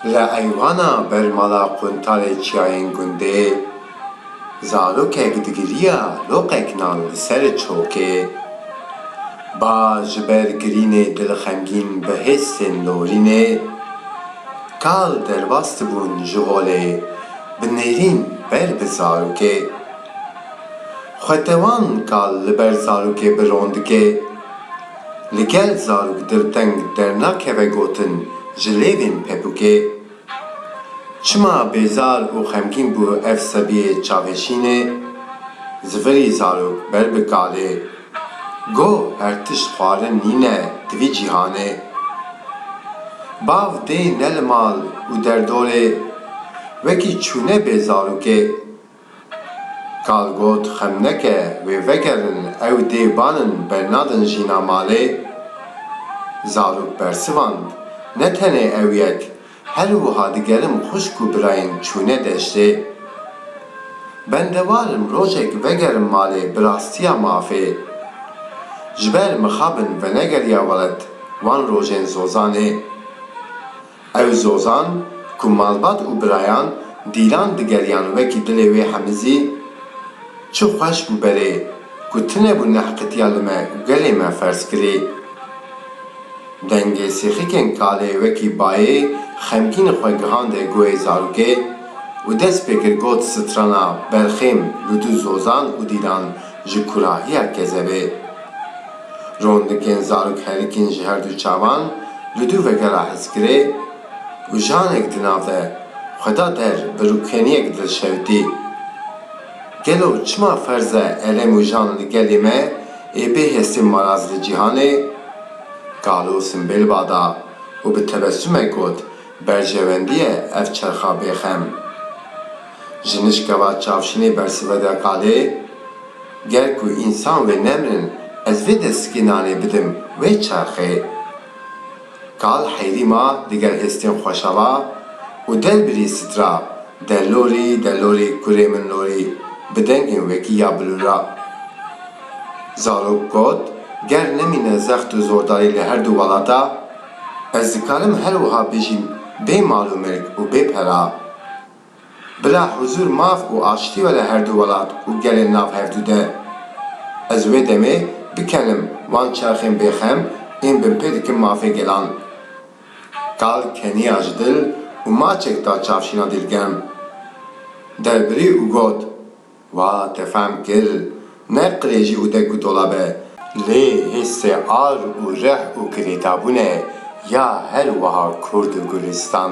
Li eywana ber mala Quntalê Çiyayên Gundê zarokek digiriya loqek nan li ser çokê. Ba ji ber girînê dilxemgîn bi hêsên lorînê. Kal derbas dibûn ji holê bi nêrîn ber bi zarokê. Xwetewan kal li ber zarokê bi ron dike. Li gel zarok dilteng dernakeve gotin ji lêvên pepûkê. Çima bêzar û xemgîn bû ev sebiyê çavêşînê? Zivirî zarok ber bi kalê Goh her tişt xwarin nîne di vî cîhanê. Bav dê ne li mal û derdorê, wekî çûne bê zarokê. Kal got xem neke wê vegerin ew dê banin bernadin jîna malê. Zarok bersivand ne tenê ew yek Her wiha digerim xwişk û birayên çûne deştê. Bendewar im rojek vegerim malê bi rastiya mafê. Ji ber mixabin venegeriya welat wan rojên zozanê. Ew zozan ku malbat û birayan dîlan digeriyan wekî dilê wê hemizî, çi xweş bû berê ku tinebû nehqitiya li me gelê me ferz kirî. Dengê sêxikên kalê wekî bayê xemgîn xwe gihande guhê zarokê û dest pê kir got strana berxêm li du zozan û dîlan ji kurahiya kezebê. Rondikên zarok herikîn ji herdu çavan li du veke re hizkirê û janek di nav de xwe da der bi rûkeniyek dilşewitî. Gelo çima ferz e elem û jan li gelê me ê bê hestê maraz li cîhanê? Kalo simbêl ba da û bi tebesumek got, Berjewendiye ev çerxa bêxem. Ji nişkeva çavşinê bersive de Kalê, Ger ku însan wê nemrin ez vê de sikê nanê bidim wê çerxê. Kal heyrî ma diger hêstên xweşava û derbirî sitra. De lorî, de lorî, kurê min lorî, bi dengên wekî ya bilûra. Zarok got, Ger nemîne zext û zordarî li her du welata, ez dikarim her wiha bijîm bê mal û milk û bê pera. Bila huzûr maf û aştî were her du welat û gelên nav hev du de. Ez wê demê bikenim wan çerxên bêxem ên binpê dikin mafê gelan. Kal keniya ji dil û maçek da çavşîna dîlgem. Derbirî û got, Wa te fehm kir, ne qirêjî û dek û dola be, lê hîsê ar û rih û girêdabûn e ya her wiha Kurd û Gulîstan.